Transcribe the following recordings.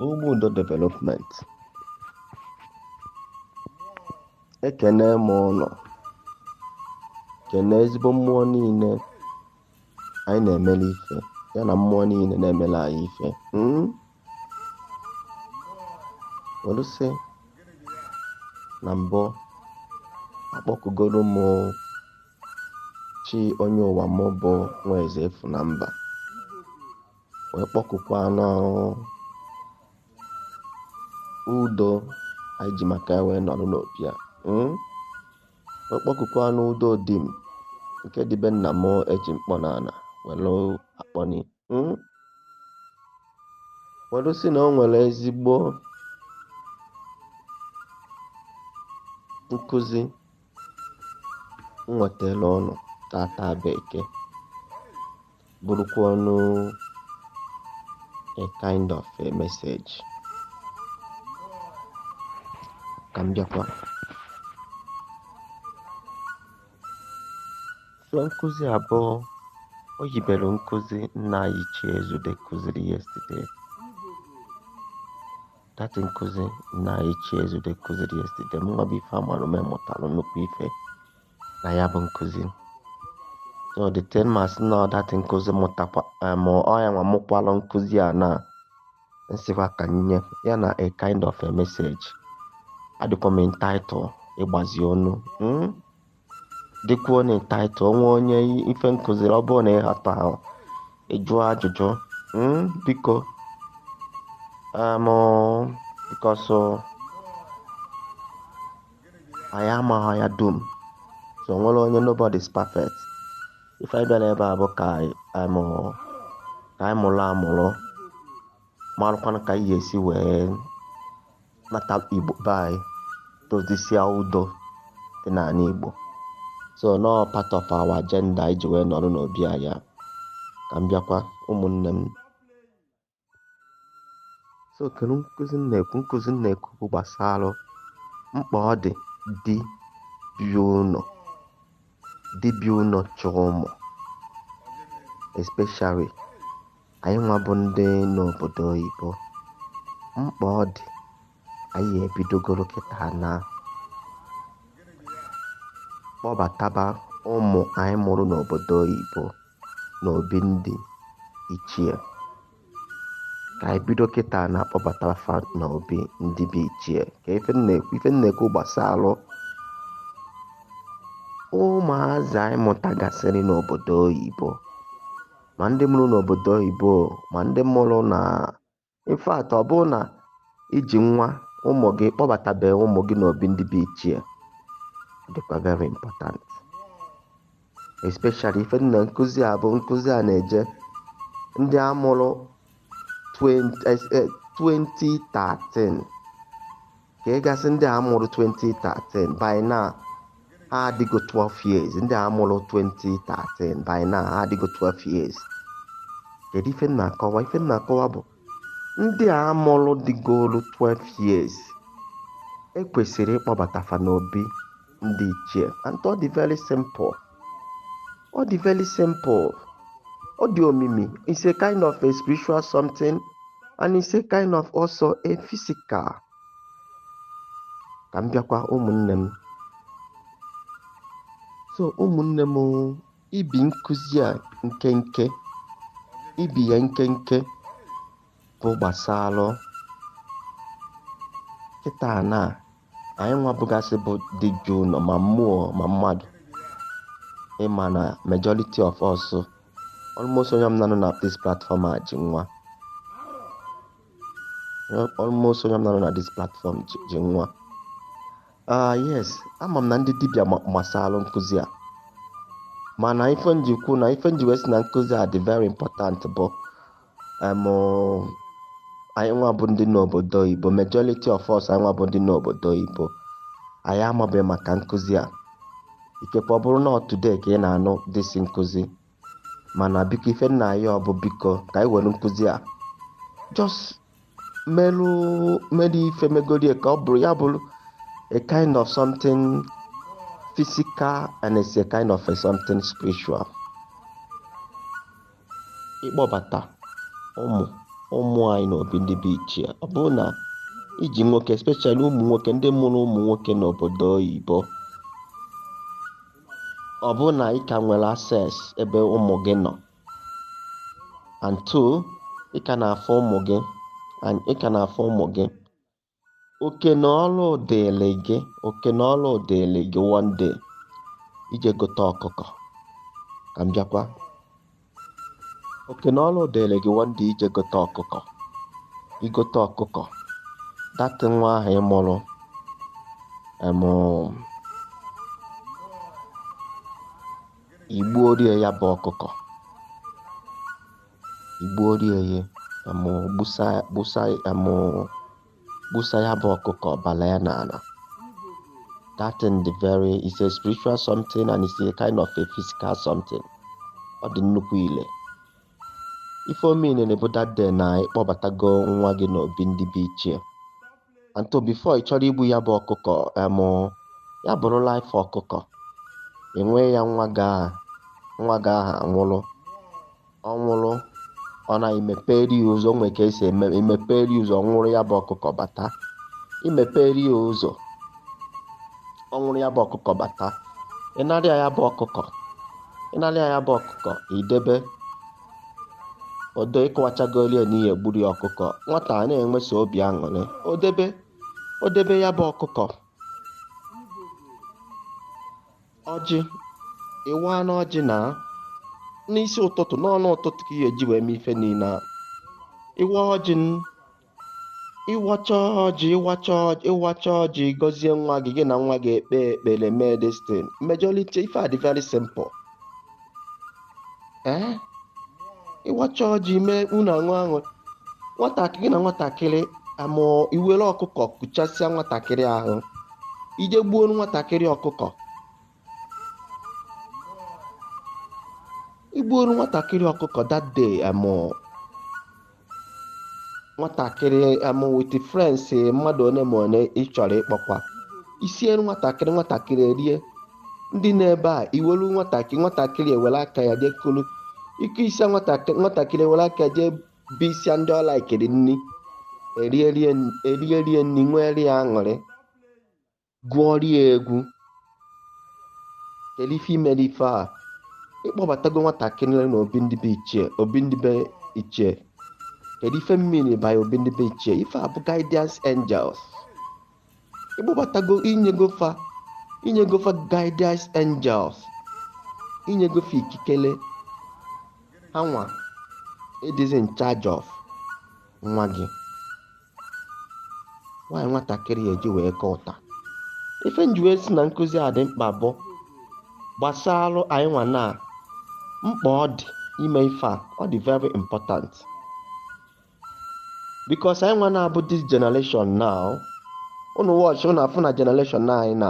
Ụmụ Udo Development ekene m ụnụ kene ezigbo mmụọ niile anyị na-emere ife ya na mmụọ niile na-emere anyị ife hmm? were sị na mbụ akpọkugoro m chi onye ụwa m bụ nwaeze efu na mba wee kpọkukwanụ Udo anyị ji maka ya wee nọrọ n'obi a hmm? wee kpọkukwanụ Udo di m nke dị be nna m eji mkpọ n'ala were akpọni Hmm? were sị na o nwere ezigbo nkụzi m wetara ụnụ tata bụ Eke bụrụkwa ụnụ a kind of a message ka m bịakwa So nkụzi a bụ o yibere nkụzi nna anyị Ichie Ezude kụziri yesterday. That nkụzi nna anyị Ichie Ezude kụziri yesterday. Mụnwa bụ ife amara m mụtara nnukwu ife na ya bụ nkụzi. So the ten mas na that nkụzi m mụtakwa eh, ma ọ ya nwa mụkwalụ nkụzi a na m sịkwa ka m nye ya na a kind of a message adịkwa m entitled ịgbazi ụnụ hmm? dịkwuonụ entitled o nwee onye ife m kụziri ọ bụrụ na ị ghọtahụ ị jụọ ajụjụ hmm? biko um, because uh, anyị amaghị ya dum so o nwerọ onye nobody is perfect ife anyị bịara ebe a bụ ka anyị mụrụ amụrụ marụkwana ka anyị ga-esi wee nata Igbo be anyị dozisie udo dị n'ala Igbo so na ọ part of our agenda anyị ji wee nọrọ n'obi anyị ka m bịakwa ụmụnne m so kedu nkụzi m na-ekwu nkụzi m na-ekwu bụ gbasara mkpa ọ dị di bi ụlọ chọrọ ụmụ especially anyị nwa bụ ndị n'obodo oyibo mkpa ọ dị anyị ebidogoro kịta na-akpọbataba ụmụ anyị mụrụ n'obodo oyibo n'obi ndị ichie ka anyị bido kịta na-akpọbataba fa n'obi ndị bụ ichie ka ife m na-ekwu gbasara ụmụazị anyị mụtagasịrị n'obodo oyibo ma ndị mụrụ n'obodo oyibo ma ndị mụrụ na In fact, ọ bụrụ na i ji nwa ụmụ gị kpọbatabeghị ụmụ gị n'obi ndị bụ ichie, ọ dịkwa very important. Especially ife dị na nkụzi a bụ nkụzi a na-eje ndị a mụrụ 20, eh, 2013 ka ị ga-asị ndị a mụrụ 2013 by now ha adịgo 12 years ndị a mụrụ 2013 by now ha adịgo 12 years kedu ife m na-akọwa ife m na-akọwa bụ ndị a mụrụ dịgolu 12 years e kwesịrị ịkpọbata fa n'obi ndị ichie and ọ dị very simple ọ dị very simple ọ dị omimi it's a kind of a spiritual something and it's a kind of also a physical ka m bịakwa ụmụnne m so ụmụnne m ibi nkụzi a nkenke ibi ya nkenke bụ gbasalụ kịta na anyị nwa bụgasị bụ di ji ụnọ ma mmụọ ma mmadụ ị ma na majority of us almost onye ọbụna nọ na this platform a ji nwa almost onye ọbụna nọ na this platform ji nwa ah yes ama m na ndị dibịa masalụ nkụzi a mana ife m ji kwu na ife m ji we sị na nkụzi a dị very important bụ um anyị nwa bụ ndị n'obodo oyibo majority of us anyị nwa bụ ndị n'obodo oyibo anyị amabeghị maka nkụzi a ikekwe ọ bụrụ na ọ today ka ị na-anụ this nkụzi mana biko ife m na-ayọ bụ biko ka anyị were nkụzi a just merụ mere ife megorie ka ọ bụrụ ya bụrụ a kind of something physical and it's a kind of a something spiritual ịkpọbata ụmụ ụmụ anyị n'obi ndị bụ ichie ọ bụrụ na i ji nwoke especially ụmụ nwoke ndị mụrụ ụmụ nwoke n'obodo oyibo ọ bụrụ na ị ka nwere access ebe ụmụ gị nọ and two ị ka na-afụ ụmụ gị and ị ka na-afụ ụmụ gị oke na ọrụ dịịlị gị oke na ọrụ dịịlị gị one day ije gote ọkụkọ ka m bịakwa oke na ọrụ dịịlị gị one day ije gote ọkụkọ igote ọkụkọ that nwa ahụ ị mụrụ em igbuoru ya ya bụ ọkụkọ igbuoru ya em gbusa gbusa em gbusa ya bụ ọkụkọ ọbala ya n'ala that thing the very is a spiritual something and it's a kind of a physical something ọ dị nnukwu ile ife ọ mean na ọ bụ that day na ịkpọbatago nwa gị n'obi ndị be ichie and so before ị chọrọ igbu ya bụ ọkụkọ em ya bụrụ life ọkụkọ inye ya nwa gị ahụ nwa gị ahụ anwụrụ ọ nwụrụ ọ na imeperi ya ụzọ nwee ka esi eme imeperi ya ụzọ ọ nwụrụ ya bụ ọkụkọ bata imeperi ya ụzọ ọ nwụrụ ya bụ ọkụkọ bata ịnarịa ya bụ ọkụkọ ịnarịa ya bụ ọkụkọ idebe odo ịkọwachagoli ya na ị ya-egburu ya ọkụkọ nwata a na-enweso obi aṅụrị o debe o debe ya bụ ọkụkọ ọjị ịwaanụ ọjị na n'isi ụtụtụ n'ọnụ ụtụtụ ka ị ya-eji wee mee ife niile a ịwa ọjị ịwacha ọjị ịwacha ọjị ịwacha ọjị gọzie nwa gị gị na nwa gị ekpe ekpere mee this thing majority ife a dị very simple ee ịwacha ọjị mee unu aṅụ aṅụ nwatakịrị gị na nwatakịrị aṅụ iwere ọkụkọ kụchasịa nwatakịrị ahụ ije gbuo nwatakịrị ọkụkọ igbuoru nwatakịrị ọkụkọ that day em nwatakịrị em with friends mmadụ one ma one ị chọrọ ịkpọkwa isiere nwatakịrị nwatakịrị erie ndị na-ebe a iwelu nwatakịrị nwatakịrị ewere aka ya jee kulu ikesịa nwatakịrị nwatakịrị ewere aka ya jee busịa ndị ọ likeịrị nni erierie erierie nni nwere ya aṅụrị gụọrọ ya egwu kedu ife imere ife a ịkpọbatago nwatakịrị na obi ndị be ichie obi ndị be ichie kedu ife m mean by obi ndị be ichie ife a bụ guidance angels ịkpọbatago inyego fa inyego fa guidance angels inyego fa ikikele ha nwa ịdịzi in charge of nwa gị nwaanyị nwatakịrị eji wee kọọ ụta ife m ji wee sị na nkụzi a dị mkpa bụ gbasalụ anyị nwa na mkpa ọ dị ime ife a ọ dị very important because anyị nwa na-abụ this generation now unu watch unu afụ na generation anyị na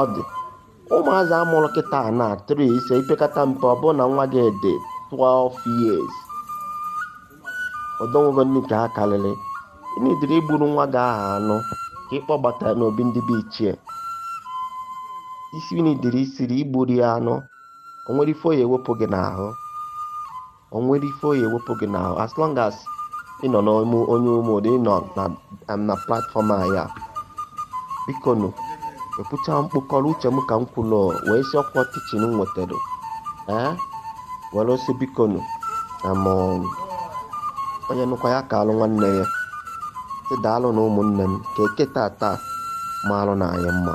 ọ dị ụmụazị amụrụ kịta na 3 ise ipekata mpe ọ bụrụ na nwa gị dị 12 years old o nwego ndị nke ha karịrị ịnidiri igburu nwa gị ahụ anụ ka ị kpọbata ya n'obi ndị be ichie isi ịnidiri isiri igburu ya anụ o nwere ife ọ ya-ewepụ gị n'ahụ o nwere ife ọ ya-ewepụ gị n'ahụ as long as ị nọ n'ime onye Ụmụ Udo ị nọ na am na platform a ya biko nụ ekwucha mkpụkọrọ uche m ka m kwulu wee sị ọkwa teaching m nwetara ee were sị biko nụ na m onye nụkwa ya kaalụ nwanne ya sị daalụ nụ ụmụnne m ka Eke tata maalụ nụ anyị mma